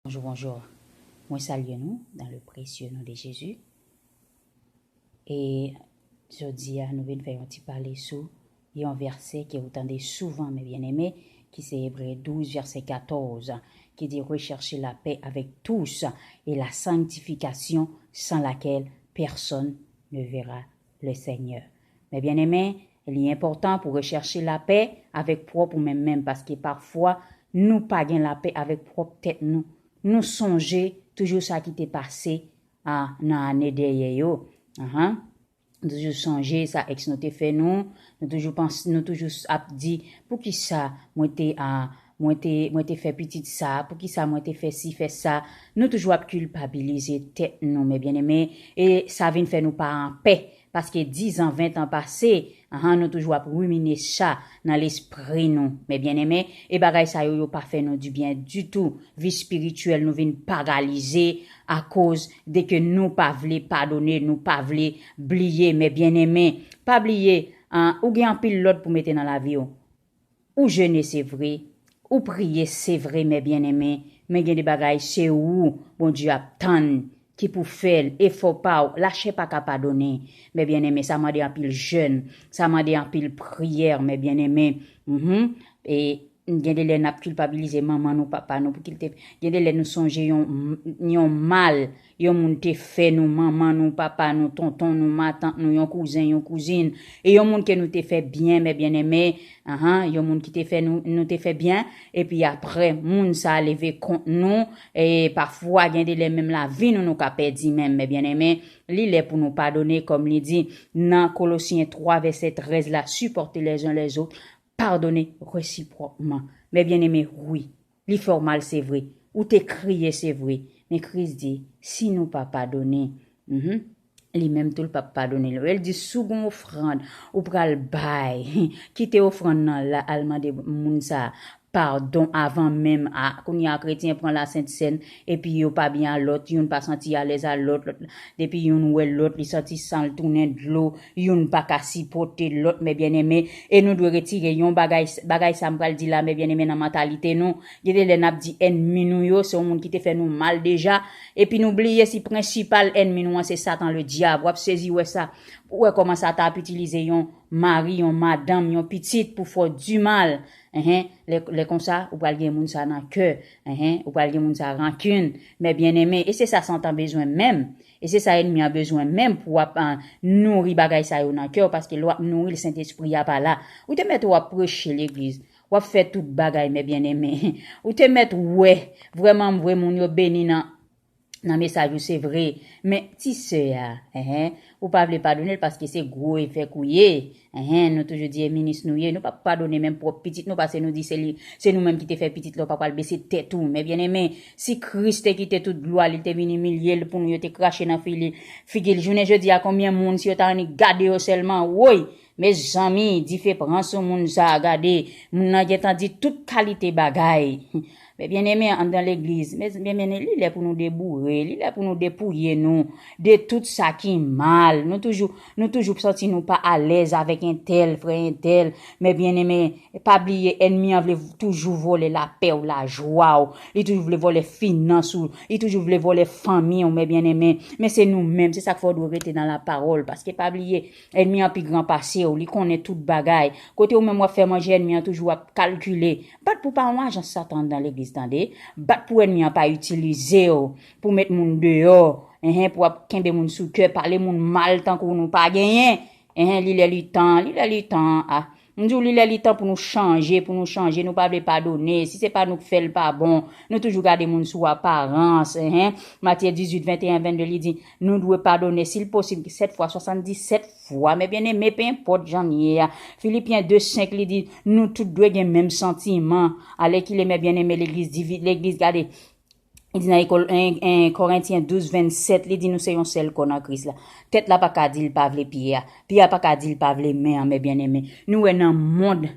Bonjou bonjou mwen salye nou dan le presye non de jezi e jodia nou vin fè yon ti pale sou yon vèsè ke ou tande souvan men byen eme ki se ebre 12 vèsè 14 ki di rechèche la pè avèk tous e la sangtifikasyon san lakèl pèsòn ne vera Le Seigneur. Men byeneme, li enpòtan pou rechèche lapè avèk pwòp ou menm menm paske pafwa nou pa gen lapè avèk pwòp tèt nou. Nou sonje toujou sa ki te pase a nan ane dèyè yo. Ahan. Nou toujou sonje sa ex nou te fè nou, nou toujou panse, nou toujou ap di, poukisa mwen te a. Mwen te, mwen te fè pitit sa, poukisa mwen te fè si, fè sa. Nou toujou ap kilpabilize tèt nou, men byeneme, e sa vin fè nou pa anpè, paske dizan, ventan pase, han, nou toujou ap rimine sa nan lespri nou, men byeneme, e bagay sa yo, yo pa fè nou dibyen ditou, vi espirityèl nou vin paralize akoz de ke nou pa vle padone, nou pa vle bliye, men byeneme, pa bliye, han, ou gen anpil lòd pou mete nan lavi ou, Ou jene se vre, ou priye se vre mè byeneme men gen de bagay se ou Bondye ap tann ki pou fèl efò pa ou la chè paka padone mè byeneme sa mande anpil jèn sa mande anpil priyè mè byeneme humm gen de lè nap kilpabilize manman nou papa nou pou kiltep gen de lè nou sonje yon mal Yon moun te fè nou, manman nou, papa nou, tonton nou, matant nou, yon kouzen, yon kouzin, e yon moun ke nou te fè byen, mè byenneme, uh-huh, yon moun ki te fè nou, nou te fè byen, epi apre, moun sa a leve kont nou, e, pafwa, gen de lè menm lavi nou nou ka pèdi menm, mè byenneme, li lè pou nou padone, kòm li di, nan Kolosyen 3 vèsè 13 la, Supportez les uns les autres, pardonnez réciproquement. Mè byenneme, wi, Li fèw mal se vre. Ou te kriye se vre. Men Kris di, si nou pa padone, mph, li menm tou l pap padone nou. El di si w gon ofrand ou pral bay, kite ofrand nan la al mande moun sa padon avan menm, ah kounya kretyen pran la sent sèn, Epi yo pa byen a lòt, youn pa santi alèz a lòt, lòt la, depi youn wè lòt li santi san l tounen dlo, youn pa ka sipòte lòt, mè byenneme, e nou dwe retire yon bagay, bagay sa m pral di la, mè byenneme nan mantalite nou, gen de lè n ap di ènmi nou yo, se yon moun ki te fè nou mal deja, epi nou bliye si prensipal ènmi nou an se satan ledyab, w ap sezi wè sa, pou wè kòman satan ap itilize yon mari, yon madanm, yon pitit pou fè w di mal, enhen, lè, lè konsa, ou pral gen moun sa nan kè, Enhen ou pral di moun sa rankin mè byeneme e se sa satan bezwen menm e se sa enmi an bezwen menm pou wap nouri bagay sa yo nan kèw paske lè wap nouril sentespri a pa la ou te mèt wap preche legliz wap fè tout bagay mè byeneme ou te mèt wè vrèmanmvre moun yo beni nan nan mesaj ou se vre men ti sè a eh ou pa vle padone l paske se gwo evèk ou ye eh nou toujou di e minis nou ye nou pap padone menm pwòp pitit nou pase nou di se li se nou menm ki te fè pitit la ou pa pral bese tèt ou men byenneme si Kris te kite tout glwa li te vin imilye l pou nou yo te krache nan figi l jounen jodi a konbyen moun si yo ta annik gade yo sèlman woy Mezanmi dife pran sou moun sa gade moun nan gentan di tout kalite bagay mes bien aimés andan legliz mes bien aimés li lè pou nou deboure li lè pou nou depouye nou de tout sa ki mal nou toujou nou toujou santi nou pa alèz avèk entèl frè entèl mes bien aimés pa bliye ènmi an vle toujou vòlè lapè w lajwa w li toujou vle vòlè finans ou li toujou vle vòlè fanmi w mes bien aimés men se nou menm se sak fè w dwe rete nan la parole paske pa bliye Ènmi an pi gran pase w, li konnen tout bagay. Kote ou menm w ap fè manje ènmi an toujou ap kalkile. Bat pou pa yon ajan satan anndan legliz tande. Bat pou ènmi an pa itilize w pou met moun deyò enhen pou ap kenbe moun sou kè pale moun mal tankou nou pa genyen enhen li lè li tan li lè li tan ah M di w li lè li tan pou nou chanje, pou nou chanje, nou pa vle padone, si se pa nou k fè l pa bon, nou toujou gade moun sou aparans, hen, Matye 18, 21, 22 li di, nou dwe padone si l posib 7 fwa, 77 fwa, mè byeneme, pe enpòt jan n ye a, Filipyen 2, 5 li di, nou tout dwe gen menm santiman, alèkile mè byeneme legliz divi, legliz gade, Li di nan ekol 1 Korentyen 12 27 li di nou se yon sèl kò nan Kris la. Tèt la paka di li pa vle pye a. Pye a paka di li pa vle men an mè byeneme. Nou wè nan mond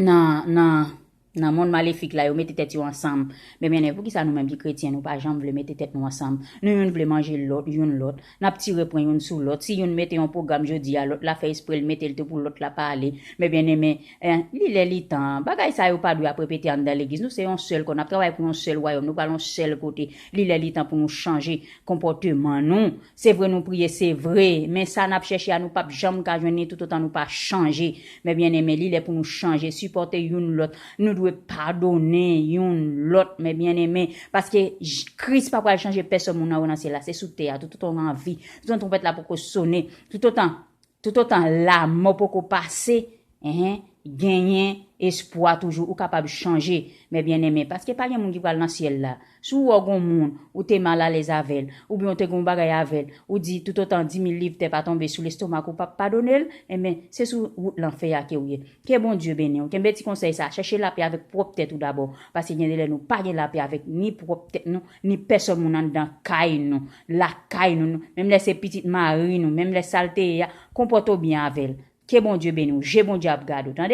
nan nan nan mond malefik la yo mete tèt yo ansanm mè byeneme poukisa nou menm ki kretyen nou pa janm vle mete tèt nou ansanm. Nou youn vle manje lòt youn lòt. N ap tire pwen youn sou lòt. Si youn mete yon pwogram jodi a, lòt la fè espre l mete l tou pou lòt la pa ale. Men byeneme, li lè li tan. Bagay sa yo pa dwe ap repete anndan Legliz. Nou se yon sèl kò. N ap travay pou yon sèl Wayòm. Nou pral yon sèl kote. Li lè li tan pou nou chanje konpòteman nou. Se vre nou priye, se vre. Men sa n ap chèche a, nou pap janm ka jwenn li toutotan nou pa chanje. Men byeneme, li lè pou nou chanje, sipòte youn lòt. Nou dwe padonnen youn lòt, mè byenneme, paske Kris pa pral chanje pèsòn moun anwo nan syèl la, se sou tè a, toutotan nou an vi, toutotan twonpèt la poko sone, toutotan, toutotan lamò poko pase, enhen, genyen espwa toujou, ou kapab chanje, mè byenneme, paske pa gen moun ki pral nan syèl la, Si w wè w gen yon moun, ou te mal alèz avè l, oubyen w te gen yon bagay avè l, ou di toutotan dimil liv tè pa tonbe sou lestomak ou pap padone l, enben, se sou wout lanfè a ke w ye. Ke Bondye beni w. Kenbe ti konsèy sa a, chèche lapè avèk pwòp tèt ou dabò, paske gen de lè nou pa gen lapè avèk ni pwòp tèt nou, ni pèsòn moun anndan kay nou, lakay nou, menm lè se pitit mari nou, menm lè sa l te ye a, konpòte w byen avè l. Ke Bondye beni w. Je Bondye ap gade w, tande!